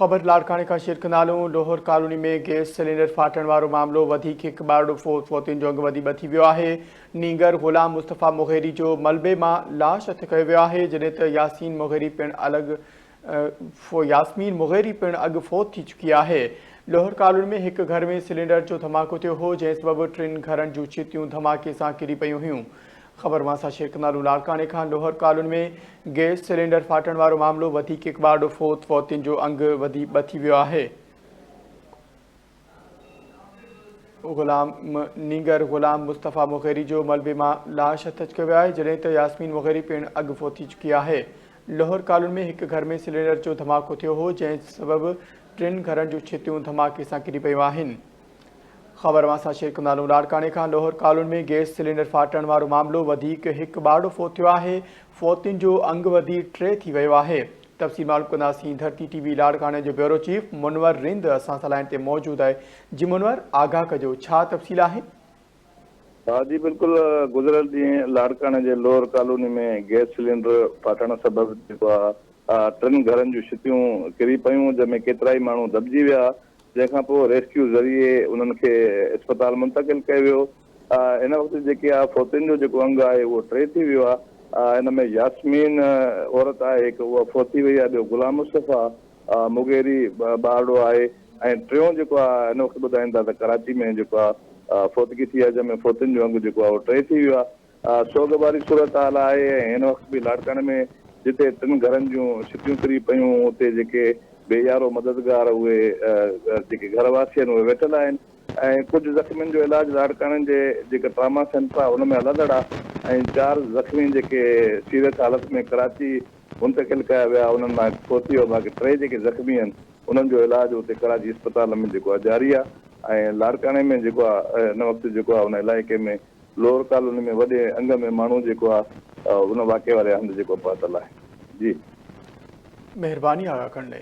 خبر لاڙڪاڻي کان شيئر ڪندالون لوهر ڪالوني ۾ گيس سلينڊر ڦاٽڻ وارو معاملو وڌيڪ هڪ ٻارڙو فوت فوتين جو انگ ودي ٻه ٿي ويو آهي نينگر غلام مصطفيٰ مغيري جو ملبي مان لاش هٿ ڪيو ويو آهي جڏهن ته ياسين مغيري پڻ الڳ ياسمين مغيري پڻ اڳ فوت ٿي چڪي آهي لوهر ڪالوني ۾ هڪ گهر ۾ سلينڊر جو ڌماڪو ٿيو هو جنهن سبب ٽن گهرن جون ڇتيون ڌماڪي سان ڪري پيون هيون خبر وانسا شيخ نالو لاڙڪاڻي کان لوهر ڪالوني ۾ گئس سلينڊر ڦاٽڻ وارو معاملو وڌيڪ هڪ ٻارڙو فوت فوتين جو انگ وڌي ٻه ٿي ويو آهي. غلام نينگر غلام مصطفيٰ مغيري جو ملبي مان لاش هٿ اچ ڪيو آهي جڏهن ته ياسمين مغيري پڻ اڳ فوت ٿي چڪي آهي لوهر ڪالوني ۾ هڪ گهر ۾ سلينڊر جو ڌماڪو ٿيو هو جنهن سبب ٽن گهرن جون ڇتيون ڌماڪي سان ڪري پيون آهن خبر واسا شيخ نالو لاڙڪاڻي کان لوهر ڪالوني ۾ گيس سلينڊر ڦاٽڻ وارو معاملو وڌيڪ هڪ ٻارڙو فوت ٿيو آهي فوتين جو انگ وڌي ٽي ٿي ويو آهي تفصيل معلوم ڪنداسين ڌرتي ٽي وي لاڙڪاڻي جو بيورو چيف منور رند اسان سان لائن تي موجود آهي جي منور آگاهه ڪجو ڇا تفصيل آهي ها جي بلڪل گذريل ڏينهن لاڙڪاڻي جي لوهر ڪالوني ۾ گيس سلينڊر ڦاٽڻ سبب جيڪو آهي ٽن گهرن جون ڇتيون ڪري پيون جنهن ۾ ڪيترائي ماڻهو دٻجي ويا جنهن کان پوء ريسڪيو ذريعي انهن کي اسپتال منتقل ڪيو ويو. هن وقت جيڪي آهي فوتين جو جيڪو انگ آهي اهو ٽي ٿي ويو آهي. ان ۾ ياسمين عورت آهي هڪ اها فوتي وئي آهي ٻيو غلام مصطفيٰ مغيري ٻارڙو آهي ۽ ٽيون جيڪو آهي هن وقت ٻڌائين ٿا ته ڪراچي ۾ جيڪو آهي فوتگي ٿي آهي جنهن ۾ فوتين جو انگ جيڪو آهي اهو ٽي ٿي ويو آهي. سوڳواري صورتحال آهي ۽ هن وقت به لاڙڪاڻي ۾ جتي ٽن گهرن جون ڇتيون ڪري پيون اتي جيڪي بي يارو مددگار اهي جيڪي گهر واسي آهن اهي ويٺل آهن ۽ ڪجهه زخمين جو علاج لاڙڪاڻي جي جيڪي ٽراما سينٽر آهي ان ۾ هلندڙ آهي ۽ چار زخمي جيڪي سيريس حالت ۾ ڪراچي منتقل ڪيا ويا انهن مان هڪ فوت ٿي ويو باقي ٽي جيڪي زخمي آهن انهن جو علاج اتي ڪراچي اسپتال ۾ جيڪو آهي جاري آهي ۽ لاڙڪاڻي ۾ جيڪو آهي هن وقت جيڪو آهي ان علائقي ۾ لوهر ڪالوني ۾ وڏي انگ ۾ ماڻهو جيڪو آ ان واقعي واري هنڌ جيڪو پهتل آهي جي. مهرباني آغا ڪنڙي.